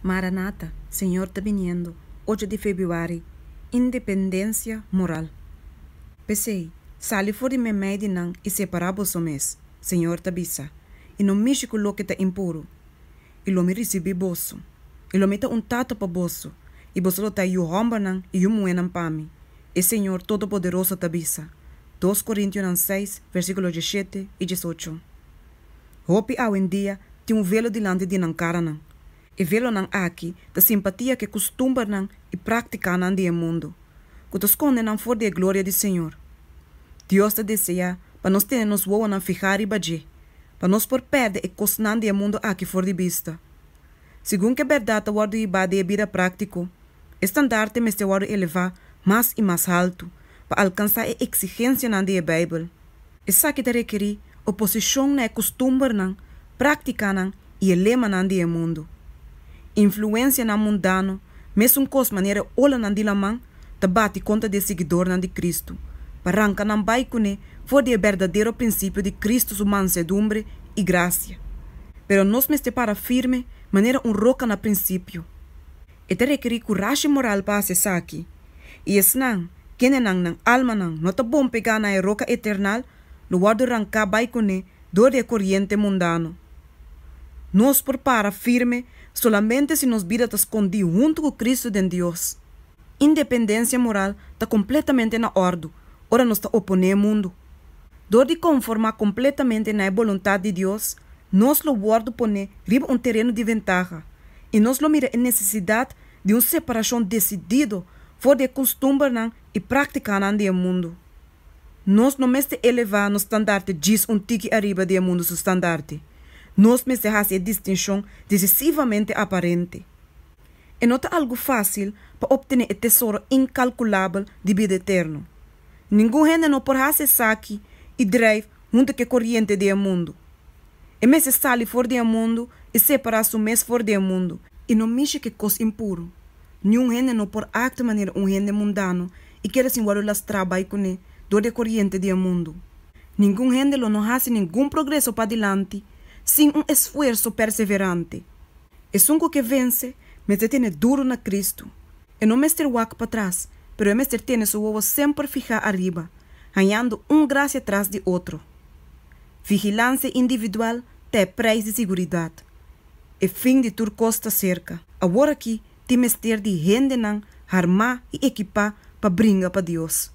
Maranata, Señor ta biniendo, ocho di Febuari, Independencia moral. P'esei, sali for di meimei di nan i separá boso mes, Señor ta bisa, i no mishi ku loke ta impuru. I lo mi risibí boso, i lo mi ta un tata pa boso, i boso lo ta yu hòmbernan i yu muhénan pa mi, e Señor Todopoderoso ta bisa. Dos Korintionan seis, versíkulo dieshete i diesocho. Hopi awendia tin un velo dilanti di nan karanan. E velonan aki ta simpatia ku e kustumbernan i praktikanan di e mundu, ku ta skonde nan for di e gloria di Señor. Dios ta deseá pa nos tene nos wowonan fihá riba dje, pa nos por pèrdè e kosnan di e mundu aki for di bista. Segun ku e bèrdat a wòrdu hibá den e bida práktiko, e standarte mester wòrdu elevá mas i mas haltu pa alkansá e eksigensianan di e Beibel. Esaki ta rekerí oposishon na e kustumbernan, práktikanan i e lemanan di e mundu. Influensianan mundano, mesun kos manera e olanan di laman, ta bati kontra di e siguidornan di Kristu pa ranka nan bai kuné for di e berdadero prinsipio di Kristu su mansedumbre i grasia. Pero nos mester para firme manera un roka na prinsipio. E ta rekerí kurashi moral pa hasi esaki, i esnan, kenenan nan almanan no ta bon pegá na e roka eternal, lo wòrdu ranká bai kuné dor di e koriente mundano. Nos por para firme solamente si nos bida ta skondí huntu ku Kristu den Dios. Independensia moral ta kompletamente na òrdu ora nos ta oponé e mundu. Dor di konformá kompletamente na e boluntat di Dios, nos lo wòrdu poné riba un tereno di ventaha i nos lo mira e nesesidat di un separashon desidido for di e kustumbernan i práktikanan di e mundu. Nos no mester elevá nos standarte djis un tiki ariba di e mundu su standarte. Nos mester hasi e distinshon decisivamente aparente. E no ta algu fásil pa optené e tesoro inkalkulabel di bida eterno. Ningun hende no por hasi esaki i drijf huntu ku e koriente di e mundu. E mester sali for di e mundu i separá su mes for di e mundu, i no mishi ku e kos impuru. Niun hende no por aktua manera un hende mundano i keda sin wòrdu lastrá bai kuné dor di e koriente di e mundu. Ningun hende lo no hasi ningun progreso padilanti sin un esfuerso perseverante. Esun cu ke vence mester tene duru na Cristo. E no mester wak patras, pero e mester tene su wowo semper fihá ariba, hañando un gracia tras di otro. Vigilancia individual ta e prijs di siguridad. E fin di tur cos ta cerca. Awor aki tin mester di hendenan harmá i equipá pa bringa pa Dios.